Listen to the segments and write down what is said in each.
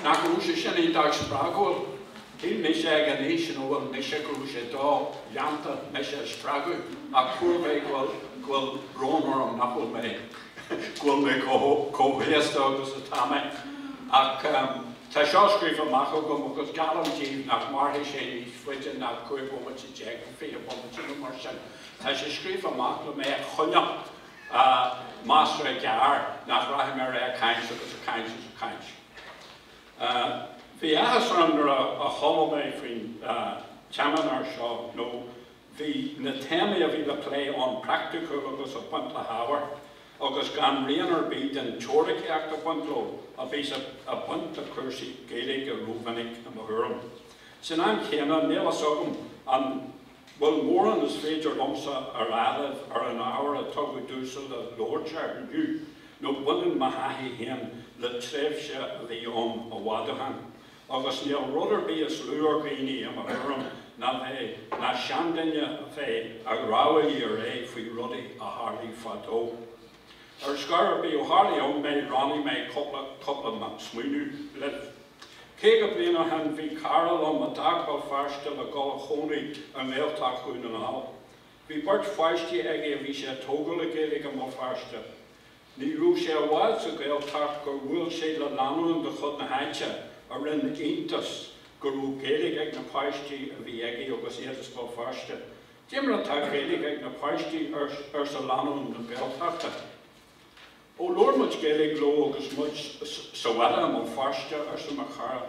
Nach raibh sé sin iontach spreagúil? Shíl mise ag an aois ina bhfuil mise go raibh sé do-dhéanta mise a spreagadh, ach fuair mé go bhfuil brón orm nach bhfuil mé go bhfuil mé chomh haosta agus atá mé. Ach tá seo scríofa amach agam agus geallaim díbh nach mairfidh sé níos faide ná cúig bhomaite déag nó fiche bomaite nó mar sin. Tá sé scríofa amach le mé a choinneáil, measartha gearr nach rachaidh mé ar aghaidh ag caint agus ag caint agus ag caint. Bhí áthas orm nuair a chuala mé faoin tseimineár seo nó bhí na téamaí a bhí le plé ann praiticiúil agus ag baint le hábhar agus gan rian ar bith den teoiricíocht ag baint leo a bhíos ag baint le cúrsaí Gaeilge rómhinic i mo thuairim. San am chéanna, níl a fhios agam an. bhfuil mórán is féidir liomsa a rá libh ar an ábhar a tugadh domhsa le labhairt air inniu, nó baineann mo thaithí féin le tréimhse a bhí ann i bhfad ó shin, agus níl rud ar bith is lú ar dhaoine, i mo thuairim, ná bheith, ná seanduine a bheith, ag rámhaillí ar aghaidh faoi rudaí a tharlaigh fadó. Ar scor ar bith, ó tharlaigh ann mé, roinnfidh mé cúpla, cúpla smaoineamh libh. 50 bliain ó shin bhí cara liom a d'fhág Béal Feirste le dul a chónaí i nGaeltacht Dhún na nGall. Bhí beirt pháistí aige a bhí sé a thógáil le Gaeilge i mBéal Feirste. Ní raibh sé i bhfad sa Ghaeltacht gur bhuail sé le lánúin de chuid na háite a rinne iontas go raibh Gaeilge ag na páistí a bhí aige agus iad as Béal Feirste. Cad é mar atá Gaeilge ag na páistí, arsa lánúin na Gaeltachta. Ó labhair muid Gaeilge leo agus muid sa bhaile i mBéal Feirste, arsa mo chara.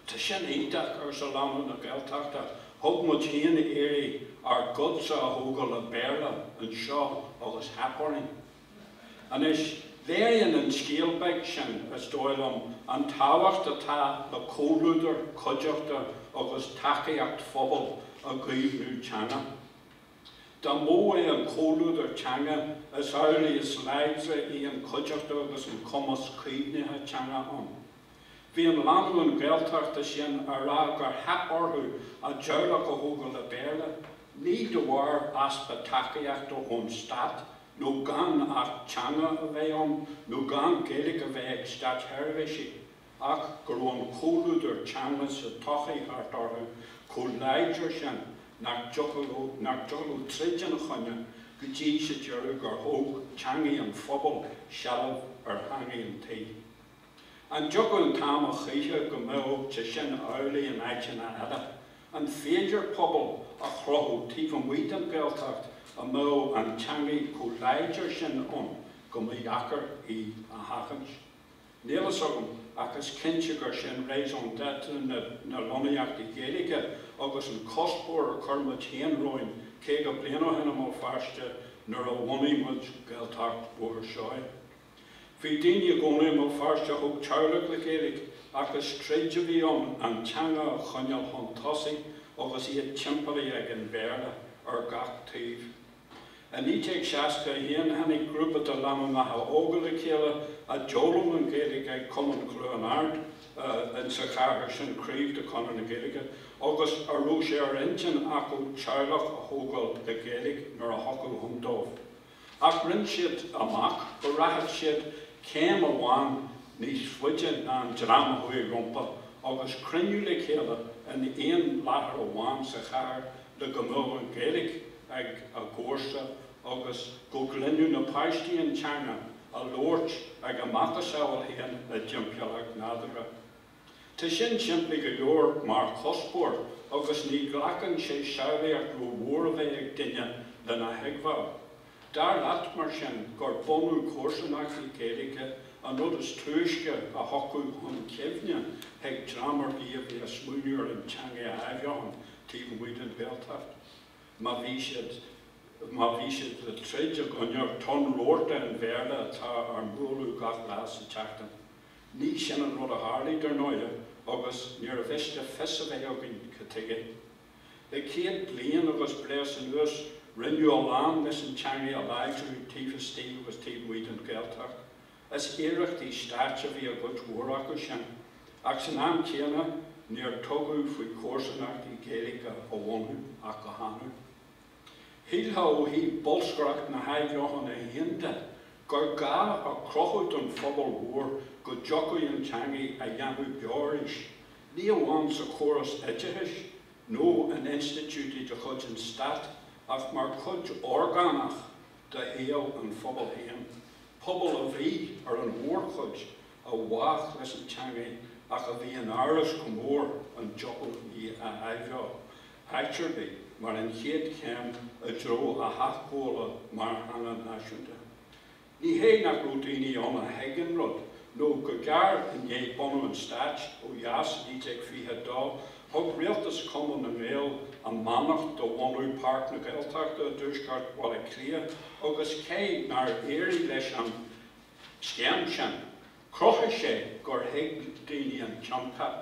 Tá sin iontach, arsa lánúin na Gaeltachta. Thug muid féin iarraidh ár gcuidse a thógáil le Béarla anseo agus theip orainn. Anois, léiríonn an scéal beag sin, is dóigh liom, an tábhacht atá le comhluadar, cuideachta agus tacaíocht phobail i gcaomhnú teanga. Dá mó é an comhluadar teanga, is amhlaidh is láidre í an chuideachta agus an cumas caomhnaithe teanga ann. Bhí an lánúin Gaeltachta sin á rá gur theip orthu a dteaghlach a thógáil le Béarla, ní de bharr easpa tacaíochta ón stát nó gan Acht Teanga a bheith ann nó gan Gaeilge a bheith ag státsheirbhísigh, ach go raibh an comhluadar teanga sa tsochaí thart orthu chomh láidir sin nach dtiocfadh leo troid ina choinne, go dtí, sa deireadh, gur thóg teangaidh an phobail seilbh ar theangaidh an tí. An dtiocfadh an t-am a choíche go mbeadh sé sin amhlaidh in áiteanna eile? An féidir pobal a chruthú taobh amuigh den Ghaeltacht a mbeadh an teangaidh chomh láidir sin ann go mba dheacair í a sheachaint? Níl a fhios agam, ach is cinnte gur sin raison d'être na lonnaíochtaí Gaeilge agus an cuspóir a chuir muid féin romhainn caoga bliain ó shin i mBéal Feirste nuair a bhunaigh muid Gaeltacht Bhóthar Seoighe. Bhí daoine i gcónaí i mBéal Feirste a thóg teaghlach le Gaeilge ach is troid a bhí ann an teanga a choinneáil chun tosaigh agus iad timpeallaithe ag an Bhéarla ar gach taobh. I 1961 tháinig grúpa de lánúineacha óga le chéile a d'fhoghlaim an Ghaeilge ag Cumann Chluain Ard sa chathair sin, craobh de Chonradh na Gaeilge, agus a raibh sé ar intinn acu teaghlach a thógáil le Gaeilge nuair a thiocfadh ann dóibh. Ach rinne siad amach go rachadh siad céim amháin níos faide ná an dream a chuaigh rompu agus cruinniú le chéile in aon láthair amháin sa chathair le go mbeadh an Ghaeilge ag a gcomharsa agus go gcluinfeadh na páistí an teanga á labhairt ag a macasamhail féin i dtimpeallacht nádúrtha. Tá sin simplí go leor mar chuspóir agus ní ghlacann sé samhlaíocht rómhór a bheith ag duine lena thuigbheáil. Dar leat, mar sin, gur bunú comharsanachtaí Gaeilge an rud is túisce a thiocfadh chun cuimhne chuig dream ar bith a bhí ag smaoineamh ar an teanga a athbheochan taobh amuigh den Ghaeltacht. má bhí siad, má bhí siad le troid i gcoinne tonn rabharta an Bhéarla atá ár mbualadh gach lá sa tseachtain. Ní sin an rud a tharlaigh, dar ndóighe, agus níorbh mhiste fios a bheith againn ca tuige. Le céad bliain agus breis anuas rinneadh a lán leis an teangaidh a láidriú taobh istigh agus taobh amuigh den Ghaeltacht. Is iarrachtaí stáit a bhí i gcuid mhór acu sin, ach san am céanna níor tugadh faoi chomharsanachtaí Gaeilge a bhunú ach go hannamh. Shílfeá ó thaobh bolscaireacht na hathbheochana féin de gur gá a chruthú don phobal mhór go dtiocfadh an teangaidh a dhéanamh beo arís, ní amháin sa chóras oideachais nó in institiúidí de chuid an stáit ach mar chuid orgánach de shaol an phobail féin, pobal a bhí, ar an mhórchuid, i bhfách leis an teangaidh ach a bhí in amhras go mór an dtiocfadh í a athbheoú áit ar bith mar an chéad chéim i dtreo a hathghabhála mar theanga náisiúnta. Ní hé nach raibh daoine ann a thuig an rud, nó go gearr i ndiaidh bunú an Stáit ó dheas i 1922, Thug rialtas Chumann na nGaedheal a mbeannacht do bhunú Páirc na Gaeltachta i dtuaisceart Bhaile Átha Cliath agus cé nár éirigh leis an scéim sin, chruthaigh sé gur thuig daoine an tionchar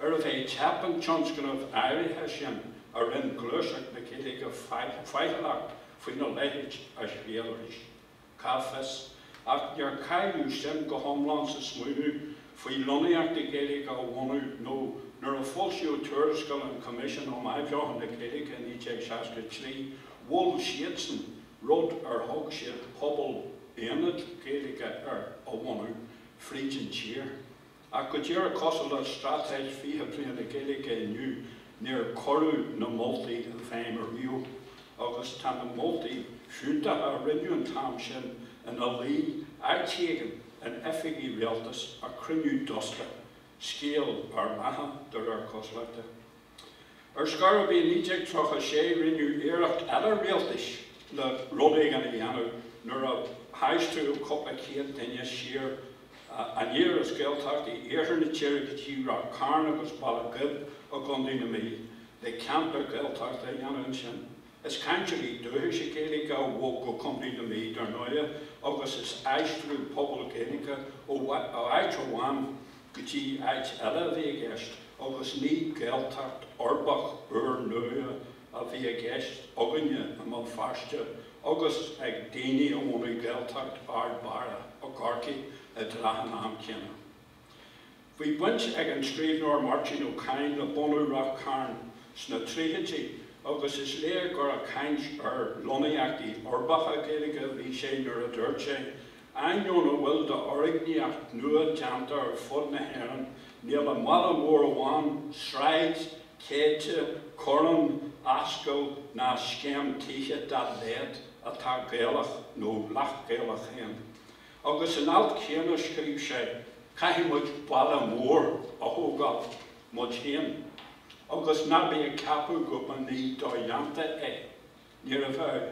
arbh é teip an tionscnaimh áirithe sin a rinn gluaiseacht na Gaeilge faichilleach faoina leithéid a thriail arís. Cá bhfios, ach níor cailleadh suim go hiomlán sa smaoineamh faoi lonnaíochtaí Gaeilge a bhunú nó nuair a foilsíodh tuarascáil an Choimisiúin um Athbheochan na Gaeilge i 1963 mhol siadsan rud ar thug siad 'pobal, aonad, Gaeilge' air a bhunú fríd an tír. Ach go díreach cosúil le Straitéis 20 Bliain na Gaeilge inniu, níor cuireadh na moltaí i bhfeidhm ariamh, agus tá na moltaí fiúntacha a rinneadh an t-am sin ina luí áit éigin in oifigí rialtais ag cruinniú dusta, scéal ár mbeatha, de réir cosúlachta. Ar scor ar bith, i 1936 rinneadh iarracht eile rialtais le rud éigin a dhéanamh nuair a haistríodh cúpla céad duine siar aniar as Gaeltachtaí iarthar na tíre go dtí Ráth Cairn agus Baile Ghib i gContae na Mí le ceantair Ghaeltachta a dhéanamh ansin. Is cainteoirí dúchaise Gaeilge a bhog go Contae na Mí, dar ndóigh, agus is aistriú pobal Gaeilge ó áit amháin go dtí áit eile a bhí i gceist agus ní Gaeltacht uirbeach úr nua a bhí i gceist againne i mBéal Feirste agus ag daoine a bhunaigh Gaeltacht Ard Barra i gCorcaigh i dtrátha an am céanna. Bhí baint ag an scríbhneoir Máirtín Ó Cadhain le bunú Ráth Cairn sna tríochaidí agus is léir gur ag caint ar lonnaíochtaí uirbeacha Gaeilge a bhí sé nuair a dúirt sé Ainneoin a bhfuil d'fhoirgníocht nua déanta ar fud na hÉireann, níl i mbaile mór amháin sráid, céide, corrán, ascaill ná scéim tithe dá laghad atá Gaelach nó leath-Ghaelach féin. Agus san alt céanna scríobh sé, Caithfidh muid baile mór a thógáil muid féin agus ná bí ag ceapadh go mba ní do-dhéanta é. Níorbh fhearr,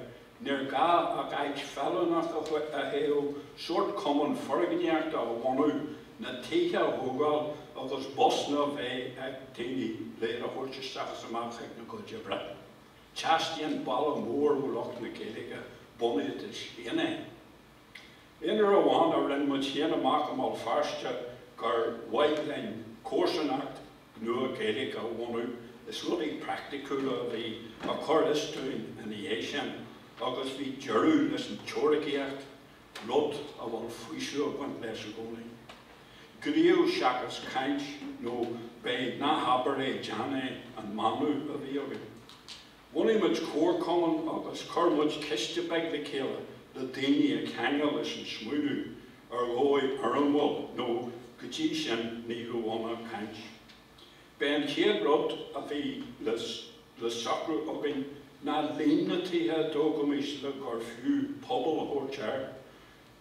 níor ghá ach áit feiliúnach a thoghadh, sórt cumann foirgníochta a bhunú, na tithe a thógáil agus busanna a bheith ag daoine le iad a thabhairt isteach is amach chuig na gcuid oibre. Teastaíonn baile mór ó lucht na Gaeilge, bunaídís féin é. Aon uair amháin a rinne muid féin amach i mBéal Feirste gur mhaith linn comharsanacht nua Gaeilge a bhunú, is rudaí praiticiúla a bhí ag cur as dúinn ina dhiaidh sin agus bhí deireadh leis an teoiricíocht, rud a bhfuil faoiseamh ag baint leis i gcónaí. Gníomh seachas caint nó b'é ná habair é déan é an manadh a bhí againn. Bhunaigh muid comharchumann agus chuir muid ciste beag le chéile le daoine a cheangal leis an smaoineamh ar dhóigh fhoirmiúil nó go dtí sin ní raibh ann ach caint. B'é an chéad rud a bhí le socrú againn ná líon na tithe a dtógfaimis le gur fiú 'pobal' a thabhairt air.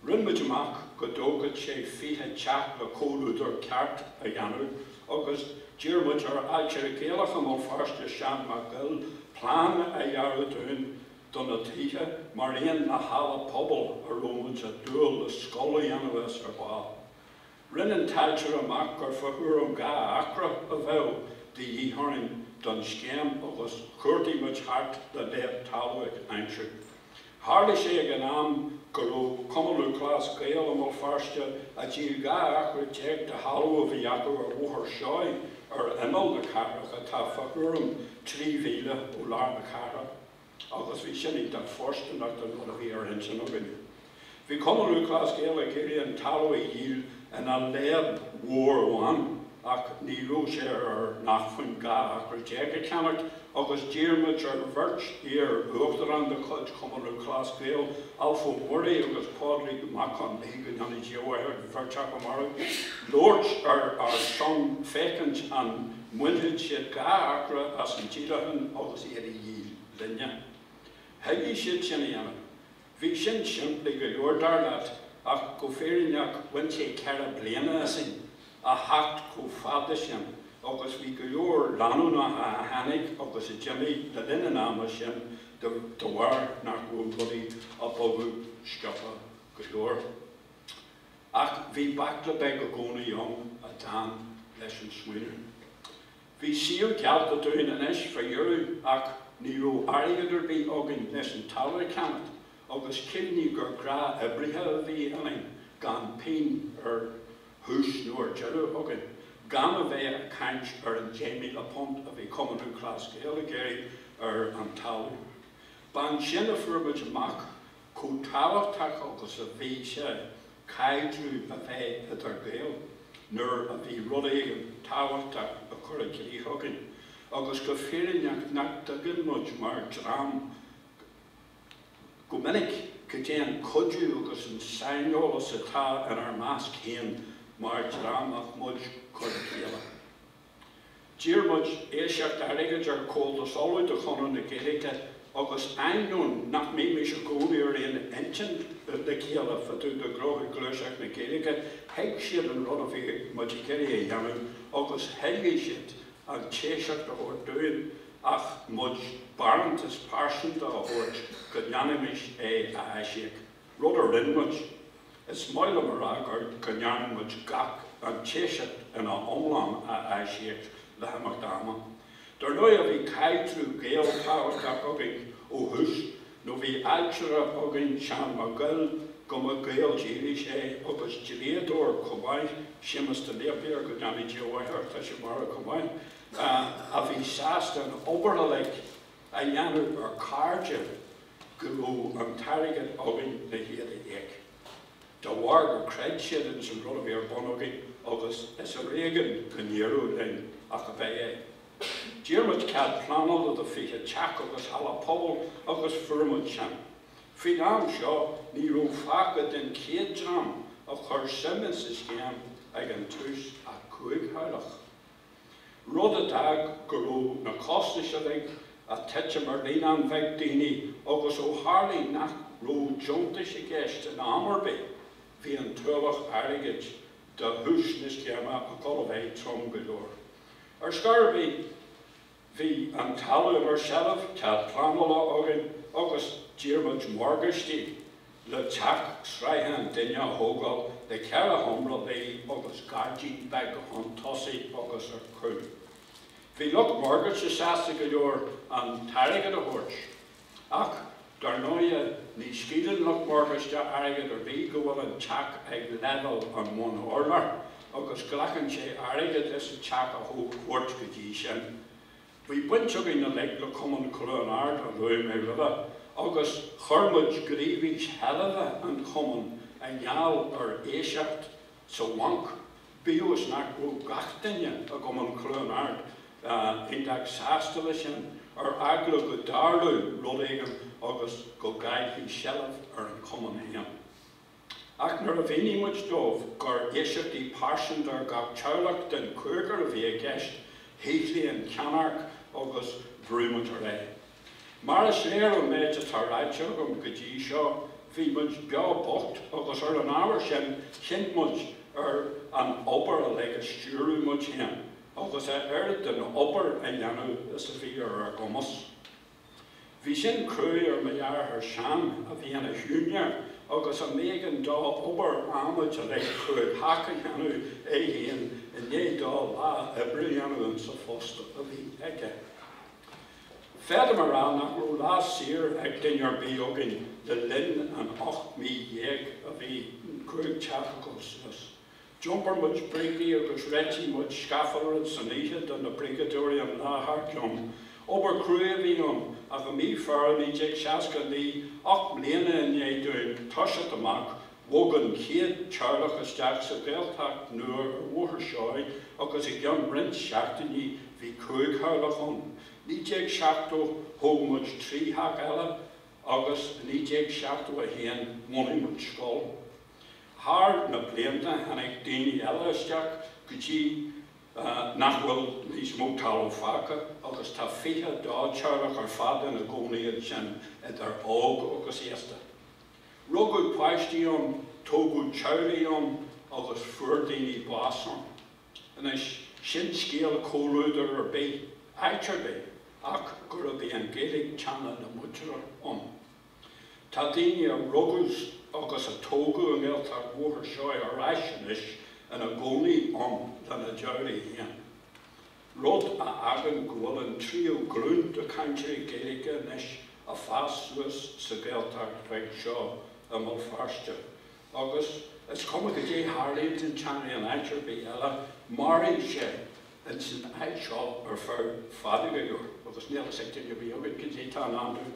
Rinn muid amach go dtógfadh sé fiche teach le comhluadar ceart a dhéanamh agus d'iarr muid ar ailtire Gaelach i mBéal Feirste, Seán Mac Goill, plean a dhearadh dúinn do na tithe mar aon le halla pobail a raibh muid ag dúil le scoil a dhéanamh as ar ball. Rinne an t-ailtire amach gur fá thuairim dhá acra a bheadh de dhíth orainn don scéim agus chuardaigh muid thart le leadhb talaimh a aimsiú. Tharla sé ag an am go raibh Cumann Lúthchleas Gael i mBéal Feirste ag díol 12 acra de thalamh a bhí acu ar Bhóthar Seoighe ar imeall na cathrach atá fá thuairim trí mhíle ó lár na cathrach. Agus bhí sin iontach fóirsteanach don rud a bhí ar intinn againn. Bhí Cumann Lúthchleas Gael ag iarraidh an talamh a dhíol ina leadhb mhór amháin ach ní raibh sé ar ár n-acmhainn dhá acra déag a cheannacht agus d'iarr muid ar bheirt iar-uachtarán de chuid Chumann Lúthchleas Gael, Alf Ó Muirí agus Pádraig Mac Con Mí go ndéana Dia a mhaith ar an bheirt acu marbh, labhairt ar ár son féachaint an. Mbainfeadh siad dhá acra as an díolachán agus iad a dhíol, linne. Thoiligh siad sin a dhéanamh. Bhí sin simplí go leor, dar leat, ach go fírinneach bhain sé ceithre bliana asainn a theacht chomh fada sin agus bhí go leor lánúnacha a tháinig agus a d'imigh le linn an ama sin de bharr nach raibh rudaí ag bogadh sciobtha go leor. Ach bhí baicle beag i gcónaí ann a d'fhan leis an smaoineamh. Bhí síol geallta dúinn anois fá dheireadh ach ní raibh airgead ar bith againn leis an talamh a cheannach agus cuimhnigh gur gnáthoibrithe a bhí ionainn gan pingin ar thús nó ar deireadh againn, gan a bheith a' caint ar an £10,000 a bhí Cumann Lúthchleas Gael a iarraidh ar an talamh. B'ansin a fuair muid amach chomh tábhachtach agus a bhí sé caidreamh a bheith idir Gaeil nuair a bhí rud éigint tábhachtach á chur i gcrích againn, agus go fírinneach nach dtuigeann muid mar dhream go minic cad é an cuidiú agus an saineolas atá inár measc féin mar dhream ach muid cur le chéile. D'iarr muid iasacht airgid ar Chomhaltas Uladh de Chonradh na Gaeilge agus ainneoin nach mbímis i gcónaí ar aon intinn le chéile fá dtaobh de ghnóthaí gluaiseacht na Gaeilge, thuig siad an rud a bhí muid ag iarraidh a dhéanamh agus thoiligh siad an t-iasacht a thabhairt dúinn ach muid barántas pearsanta a thabhairt go ndéanfaimis é a aisíoc. Rud a rinn muid. Is maith liom a rá gur go ndearna muid gach an t-iasacht ina iomlán a aisíoc le himeacht ama. Dar ndóighe bhí caidreamh Gael tábhachtach againn ó thús nó bhí ailtire againn Seán Mac Goill, go mba Gael dílis é agus dlíodóir chomh maith, Séamus de Napier, go ndéana Dia a mhaith air, tá sé marbh chomh maith, a bhí sásta an obair uilig. a dhéanamh ar cairde go raibh an t-airgead againn le hiad a íoc, de bharr gur chreid siad ins an rud a bhí ar bun againn agus is ar éigean go n-éireodh linn ach ab é é. D'iarr muid cead pleanála le 20 teach agus halla pobail agus fuair muid sin. Faoin am seo ní raibh fágtha den chéad dream a chuir suim ins an scéim ag an tús ach cúig theaghlach. rud a d'fhág go raibh na costais uilig a' titim ar líon an-bheag daoine agus ó tharlaigh nach raibh deontais i gceist in am ar bith, bhí an t-ualach airgid de thús na scéime ag dul a bheith trom go leor. Ar scor ar bith. Bhí an talamh inár seilbh, cead pleanála againn agus d'iarr muid morgáistí le teach sraithe an duine a thógáil le ceithre sheomra luí agus gairdín beag chun tosaigh agus ar chúl. Bhí lucht morgáiste sásta go leor an t-airgead a thabhairt. Ach, dar ndóighe, ní scaoileann lucht morgáiste airgead ar bith go bhfuil an teach ag leibhéal an bhun-urláir, agus glacann sé airgead leis an teach a thabhairt go dtí sin. Bhí baint againn uilig le Cumann Chluain Ard, a luaigh mé roimhe, agus chuir muid gníomhais sheilbhe an chumainn i ngeall ar iasacht sa bhanc, Bíodh is nach raibh gach duine i gCumann Cluain Ard iontach sásta leis sin, ar eagla go dtarlódh rud éigin agus go gcaillfí seilbh ar an chumann féin. Ach nuair a mhínigh muid dóibh gur iasachtaí pearsanta ar gach teaghlach den chúigear a bhí i gceist, shíothlaigh an cheannairc agus bhrú muid ar aghaidh. Mar is léir ón méid atá ráite agam go dtí seo, bhí muid beo bocht agus ar an ábhar sin chinn muid ar an obair uilig a stiúradh muid féin agus a oiread den obair a dhéanamh is a bhí ar ár gcumas. Bhí sin cruaidh ar mo dheartháir Seán a bhí ina shiúinéir agus a mb'éigean dó obair adhmaid uilig chúig theach a dhéanamh é féin i ndiaidh dó lá oibre a dhéanamh insa phost a bhí aige. Féadaim a rá nach raibh lá saor ag duine ar bith againn le linn an ocht mí dhéag a bhí an cúig teach ag gabháil suas. D'iompair muid brící agus réitigh muid scafalra san oíche do na bríceadóirí an lá thar cionn. Obair cruaidh a bhí ann, ach i mí Feabhra 1969, ocht mbliana i ndiaidh dúinn toiseacht amach, Bhog an chéad teaghlach isteach sa Ghaeltacht nua ar Bhóthar Seoighe agus i gceann roinnt seachtainí bhí cúig theaghlach ann. 1970 thóg muid trí theach eile agus i 1971 bhunaigh muid scoil. Thar na blianta tháinig daoine eile isteach go dtí nach bhfuil níos mó talamh fágtha agus tá 22 teaghlach ar fad ina gcónaí ansin, idir óg agus aosta. Rugadh páistí ann, tógadh teaghlaigh ann agus fuair daoine bás ann. Anois, sin scéal comhluadair ar bith, áit ar bith, ach gurbh í an Ghaeilge teanga na muintire ann. Tá daoine a rugadh agus a tógadh i nGaeltacht Bhóthar Seoighe ar ais anois ina gcónaí ann lena dteaghlaigh féin. rud a fhágann go bhfuil an tríú glúin de chainteoirí Gaeilge anois ag fás suas sa Ghaeltacht bheag seo i mBéal Feirste, agus is cuma goidé tharlaíonn don teangaidh in áit ar bith eile, mairfidh sé insan áit seo ar feadh fada go leor, agus níl fhios ag duine ar bith againn goidé tá i ndán dó.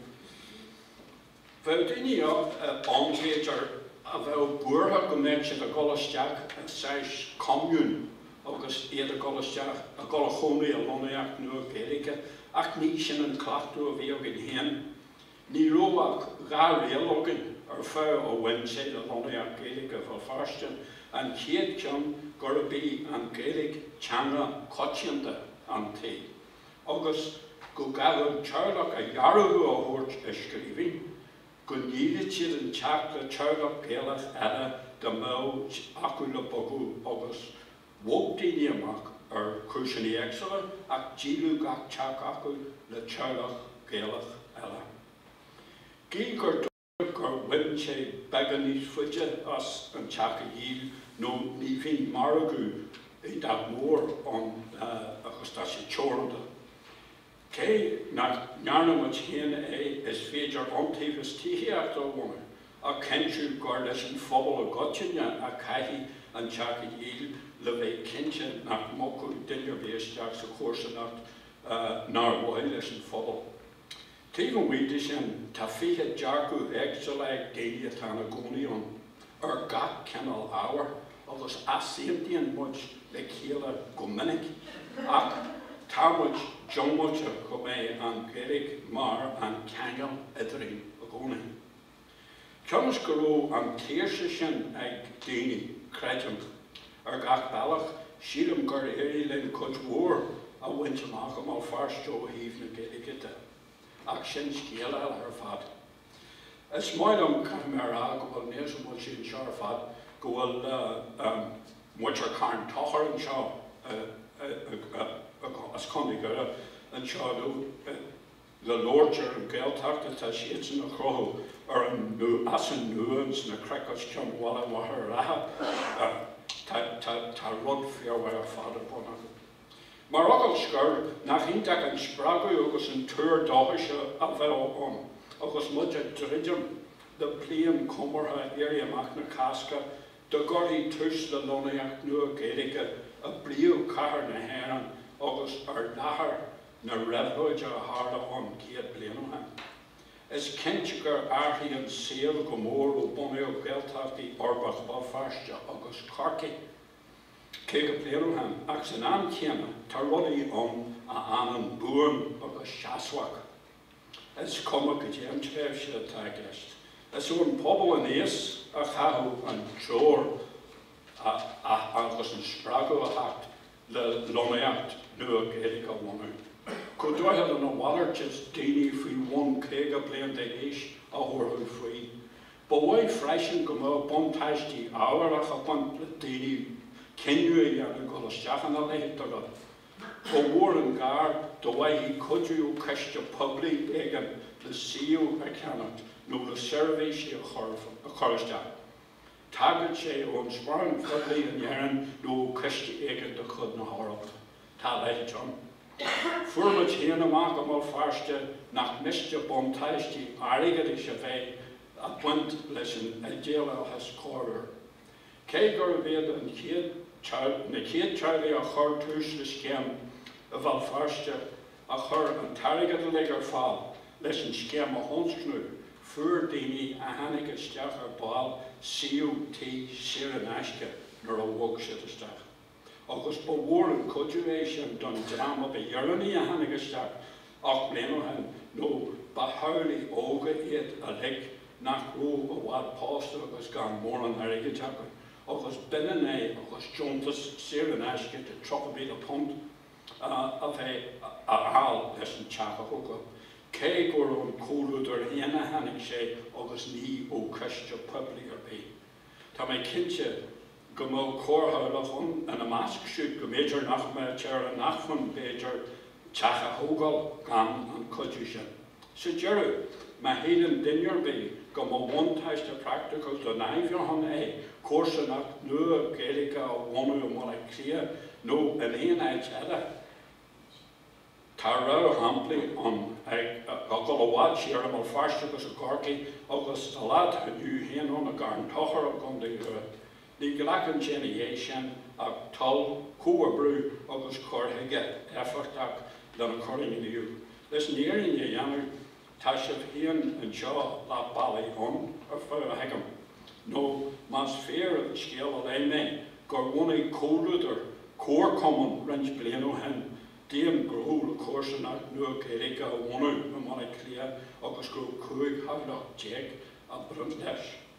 Bheadh daoine ann, b'fhéidir, a bheadh buartha go mbeadh siad ag dul isteach i saghas commune agus iad ag dul isteach, ag dul a chónaí i lonnaíocht nua Gaeilge, ach ní sin an cleachtadh a bhí againn féin. Ní raibh ach dhá riail againn ar fad a bhain sé le lonnaíocht Gaeilge Bhéal Feirste, an chéad cheann gurb í an Ghaeilge teanga choitianta an tí, agus go gcaithfeadh an teaghlach a dhearbhú a thabhairt i scríbhinn go ndíolfadh siad an teach le teaghlach Gaelach eile dá mbeadh acu le bogadh agus bhog daoine amach ar chúiseanna éagsúla ach díoladh gach teach acu le teaghlach Gaelach eile. Gidh gur. gur bhain sé beagán níos faide as an teach a dhíol nó ní bhíonn margadh i bhfad mór ann agus tá sé teoranta. Cé nach ndearna muid féin é, is féidir iontaobhas tithíochta a bhunú a chinnteodh gur leis an phobal i gcoitinne a chaithfí an teach a dhíol le bheith cinnte nach mbogfadh duine ar bith isteach sa chomharsanacht nár mhaith leis an phobal. Taobh amuigh de sin, tá fiche dearcadh éagsúla ag daoine atá ina gcónaí ann, ar gach cineál ábhair, agus easaontaíonn muid le chéile go minic. Ach tá muid diongbháilte go mbeidh an Ghaeilge mar an ceangal eadrainn i gcónaí. Cionn is go raibh an tsaoirse sin ag daoine, creidim. Ar gach bealach, sílim gur éirigh linn cuid mhór a bhaint amach i mBéal Feirste ó thaobh na Gaeilge de. Ach sin scéal eile ar fad. Is maith liom, caithfidh mé a rá, go bhfuil níos, an bhfuil siad anseo ar fad? go bhfuil muintir Charn Tóchair anseo as Contae Dhoire anseo inniu. Le labhairt ar an Ghaeltacht atá siadsan a chruthú as an nua ins na cnoic os cionn Bhaile Mhachaire Rátha tá tá tá tá rud fíormhaith ar fad ar bun acu. Mar fhocal scoir, nach iontach an spreagadh agus an tuar dóchais é a bheadh ann agus muid ag druidim le bliain chomórtha Éirí Amach na Cásca dá gcuirfí tús le lonnaíocht nua Gaeilge i bpríomhchathair na hÉireann agus ar láthair na réabhlóide a tharla ann céad bliain ó shin. Is cinnte gur athraigh an saol go mór ó bunaíodh Gaeltachtaí uirbeacha Bhéal Feirste agus Chorcaí caoga bliain ó shin ach san am chéanna tá rudaí ann a fhanann buan agus seasmhach, is cuma goidé an tréimhse atá i gceist. Is ón bpobal aníos a chaithfeadh an treoir agus an spreagadh a theacht. le lonnaíocht nua Gaeilge a bhunú. Go dtarlaíonn a mhalairt is daoine faoi bhun 50 bliain d'aois a thabharfadh faoi. Ba mhaith freisin go mbeadh buntáistí ábharacha ag baint le daoine cinneadh a dhéanamh dul isteach ina leithéid de rud. Ba mhór an gar dá bhfaighfí cuidiú ó chiste poiblí éigin le suíomh a cheannacht nó le seirbhísí a chur isteach. Tagadh sé ón sparán phoiblí in Éirinn nó ó chiste éigin de chuid na hEorpa, tá a leithéid ann. Fuair muid féin amach i mBéal Feirste nach miste buntáistí airgeadais a bheith ag baint leis an idéalachas corruair. Cé gurbh iad na chéad teaghlaigh a chuir tús le scéim i mBéal Feirste, a chuir an t-airgead uilig ar fáil leis an scéim a thionscnú, fuair daoine a tháinig isteach ar ball suíomh tí saor in aisce nuair a bhog siad isteach. Agus ba mhór an cuidiú é sin don dream ab dheireanaí a tháinig isteach, ocht mbliana ó shin, nó ba theaghlaigh óga iad uilig nach raibh i bhfad pósta agus gan mórán airgid acu, agus b'ionann é agus deontas saor in aisce de £30,000. a bheith á fháil leis an teach a thógáil, cé gur ón chomhluadar féin a tháinig sé agus ní ó chiste poiblí ar bith. Tá mé cinnte go mbeadh corrtheaghlach ann ina measc siúd go mb'fhéidir nach mbeadh sé ar a n-acmhainn, b'fhéidir, teach a thógáil gan an cuidiú sin. Sa deireadh, má shíleann duine ar bith go mba bhuntáiste praiticiúil don athbheochan é comharsanacht nua Gaeilge a bhunú i mBaile Átha Cliath nó in aon áit eile, tá réamhshamplaí ann ag dul i bhfad siar, i mBéal Feirste agus i gCorcaigh agus, sa lá atá inniu féin ann, i gCarn Tóchair i gContae Dhoire. Ní ghlacann sé ina dhiaidh sin ach toil, comhoibriú agus cur chuige éifeachtach lena cur i ngníomh. Leis an fhírinne a dhéanamh, tá sibh féin anseo leath bealaigh ann, ar feadh a thuigim, nó más fíor an scéal a léigh mé, gur bhunaigh comhluadar comharchumann roinnt bliain ó shin d'aon ghnó le comharsanacht nua Gaeilge a bhunú i mBaile Átha Cliath agus go raibh 15 theaghlach a bhain leis.